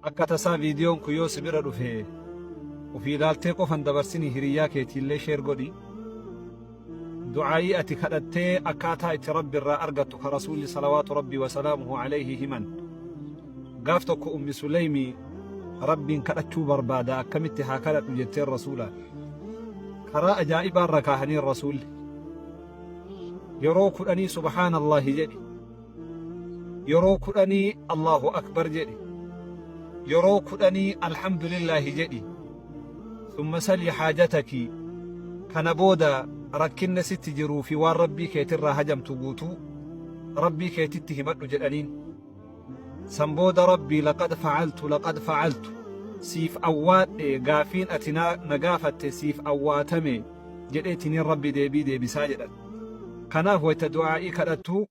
Akka tasaa viidiyoon kun yoo si bira dhufe ofii ilaaltee qofa hin dabarsinii hiriyyaa keetiillee sheer godhi. Du'aa'ii ati kadhattee akkaataa itti Rabbi irraa argattu ka Rasuulli salawaatu Rabbii wa salaamuhu alayhi himan. Gaaf tokko Ummi Suleymi Rabbiin kadhachuu barbaada akkamitti haa kadhadhu jetteen Rasuulaan. Karaa ajaa'ibaa irra kaahaniin Rasuulli. Yeroo kudhanii subhaanallaahi jedhi. Yeroo kudhanii Allaahu Akbar jedhi. Yeroo kudhanii Alhamdulillaahi jedhi. Summa salii haajataki. Kana booda rakkinna sitti jiruu fi waan Rabbii keetirraa hajamtu guutuu Rabbii keetitti himadhu jedhaniin. San booda Rabbii laqad fa'altu laqad fa'altu siif awwaadhe gaafiin ati na gaafatte siif awwaatame jedheetiniin Rabbi deebii deebisaa jedhan. Kanaaf wayta du'aa'ii kadhattu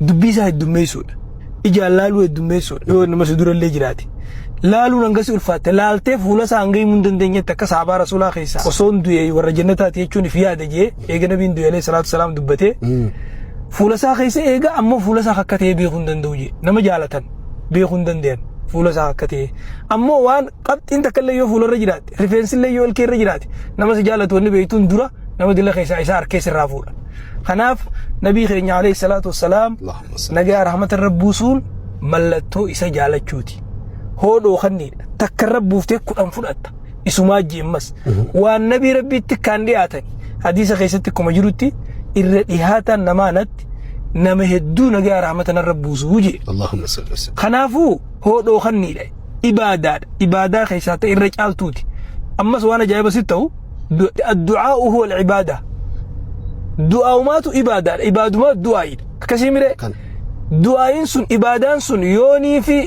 dubbii isaa heddummeessuudha. Ijaan laaluu heddummeessuudha yoo nama si durallee jiraate. Laaluun hanga si ulfaatte laaltee fuula isaa hanga himuu hin dandeenyetti akka saabaa rasuulaa keessaa osoon du'e warra jannataati jechuun if yaada jee eega nabiin du'e alayhi salaatu salaam dubbatee fuula isaa keessa eega ammoo fuula isaa akka ta'e beekuu hin danda'u jee nama jaalatan beekuu hin danda'an fuula isaa akka ta'e ammoo waan qabxiin takka illee yoo fuularra jiraate Rifeensillee yoo ilkee irra jiraate nama si jaalatu wanni beeytuun dura nama dila keessaa isaa harkee sirraa fuudha. Kanaaf nabii keenya alayhi salaatu wassalaam Allahumma salli. nagaa rahmata irra buusuun mallattoo isa jaalachuuti. Hoodhoo kanniidha. Takka irra buuftee kudhan fudhatta. Isumaa jeemmas. Waan nabii rabbiitti kan dhiyaatan hadiisa keessatti akkuma jirutti irra dhihaataan namaa natti nama hedduu nagaa rahmata narra buusuu jee. Allahumma salli. Kanaafuu hoodhoo kanniidha. ibaadaadha ibaadaa keessaa ta'e irra caaltuuti ammas waan ajaa'iba sitti ta'u addu'aa uhu wal ibaadaa du'aa'umaatu ibaadaadha ibaadumaa du'aa'idha akkasii miree Kan. du'aa'iin sun ibaadaan sun yoonii fi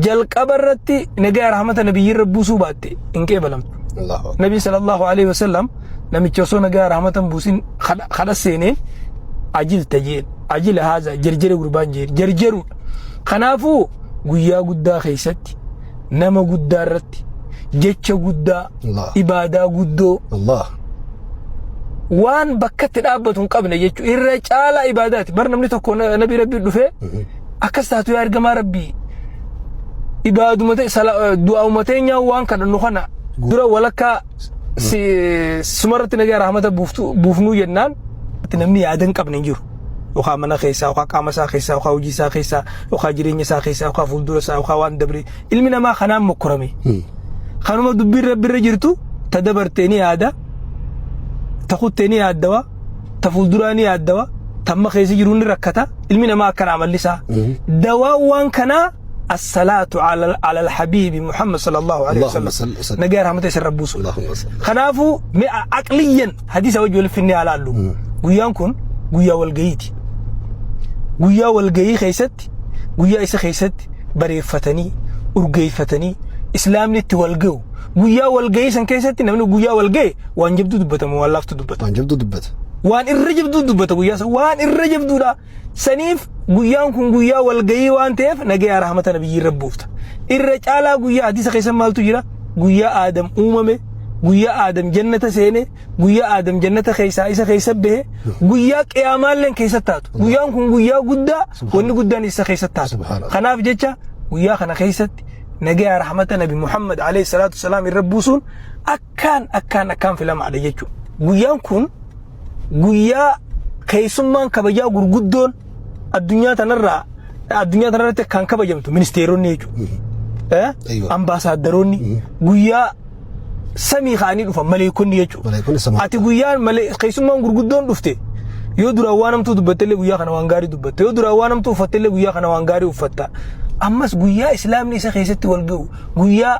jalqaba irratti nagaa rahmata nabiyyi irra buusuu baatte hin qeebalamtu Allahu akbar. nabi sallallahu alaihi wasallam namicha osoo nagaa rahmatan buusin kadha seeneen ajil tajeen ajila haaza jarjere gurbaan jeen jarjeruudha Kanaafuu guyyaa guddaa keessatti nama guddaa irratti jecha guddaa Allah. ibaadaa guddoo Allah. waan bakkatti dhaabbatu hin qabne jechuudha. Irra caalaa ibaadaati. Bar namni tokko na- nabii rabbii dhufee akkas taatu yaa ergamaa rabbii ibaaduma ta'e sala- du'aa'uma teenyaa waan kadhannu kana dura walakkaa sumarratti nagaa rahmata buufnuu jennaan itti namni yaada hin qabne hin jiru. Yookaan mana keessaa, yookaan qaama isaa keessaa, yookaan hojii isaa keessaa, yookaan jireenya isaa keessaa, yookaan fuuldura isaa, yookaan waan dabree ilmi namaa kanaan mokkorame. Kanuma dubbiin rabbi irra jirtu ta dabartee ni yaada, ta kuttee ni yaaddawa, ta fuulduraa ni yaaddawa, tamma keessa jiru ni rakkata, ilmi namaa akkana amalli isaa. Dawaan waan kanaa Assalaatu alal habiibi Muhammad sallallahu alaihi Allahumma salli wa wasallam. sallim. Nagaa rahmata isarra buusu. Allahumma salli. Kanaafuu mee a- aqliyyan hadiisa wajji walitti finnee haa laallu. Guyyaan kun guyyaa walga'iiti. Guyyaa walga'ii keessatti guyyaa isa keessatti bareeffatanii urgeeffatanii islaamni itti walga'u. Guyyaa walga'ii san keessatti namni guyyaa walga'e waan jabduu dubbatamu waan laaftu dubbata. Waan jabdu dubbata. Waan irra jabduu dubbata guyyaa san waan irra jabduudha. Saniif guyyaan kun guyyaa walgayii waan ta'eef nagayaa rahmata nabiyyii irra buufta. Irra caalaa guyyaa hadiisa keessan maaltu jira? Guyyaa Aadam uumame, guyyaa Aadam jannata seene, guyyaa Aadam jannata keessaa isa keessa bahe, guyyaa qiyaamaalleen keessa taatu. Guyyaan kun guyyaa guddaa wanni guddaan isa keessa taatu. Subhaanallah. Kanaaf jecha guyyaa kana keessatti nagayaa rahmata nabi Muhammad alayhi salaatu wasalaam irra buusuun akkaan akkaan akkaan filamaadha jechuudha. Guyyaan kun guyyaa keessummaan kabajaa gurguddoon addunyaa tanarraa addunyaa tanarratti kan kabajamtu ministeeronni jechuudha. Eh? Ayyo. Ambaasaaddaroonni guyyaa samii ka'anii dhufan maleekonni jechuudha. Maleekonni samii. Ati guyyaa malee keessummaan gurguddoon dhufte yoo duraan waan hamtuu dubbattellee guyyaa kana waan gaarii dubbatte yoo duraan waan hamtuu uffattellee guyyaa kana waan gaarii uffatta. Ammas guyyaa islaamni isa keessatti wal ga'u guyyaa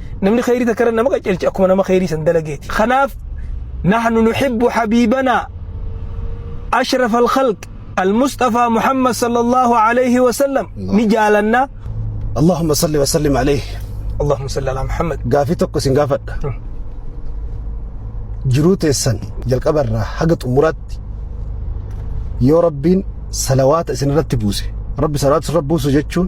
Namni khayrii takkarra nama qacelche akkuma nama khayrii san dalageeti. Kanaaf nahnu nuhibbu habiibanaa ashraf al-khalq al-Mustafa Muhammad sallallahu alayhi wa sallam ni jaalanna. Allahumma salli wa sallim alayhi. Allahumma salli ala Muhammad. Gaafii tokko isin gaafadha. Jiruu teessan jalqaba irraa haga xumuraatti yoo rabbiin salawaata isin irratti buuse rabbi salawaata isin irratti buusu jechuun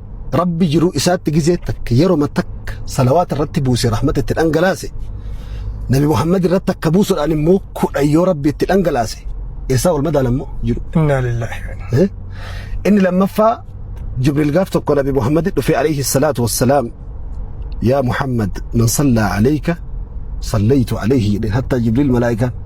Rabbi jiruu isaatti gizee takka yeroma takka salawaata irratti buuse rahmata itti dhangalaase nabi Muhammad irratti akka buusuudhaan immoo kudha yoo rabbi itti dhangalaase eessaa wal madaalan immoo jiru. Innaa lillaahi. Eh? Inni lammaffaa Jibriil gaaf tokko nabi Muhammad dhufee alayhi salaatu wassalaam yaa Muhammad man sallaa alayka sallaytu alayhi jedheen hattaa Jibriil malaa'ikaan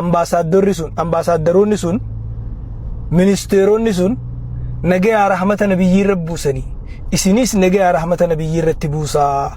ambaasaaddarri sun ambaasaaddaroonni sun ministeeronni sun nagayaa rahmata nabiyyii irra buusanii isinis nagayaa rahmata nabiyyii irratti buusaa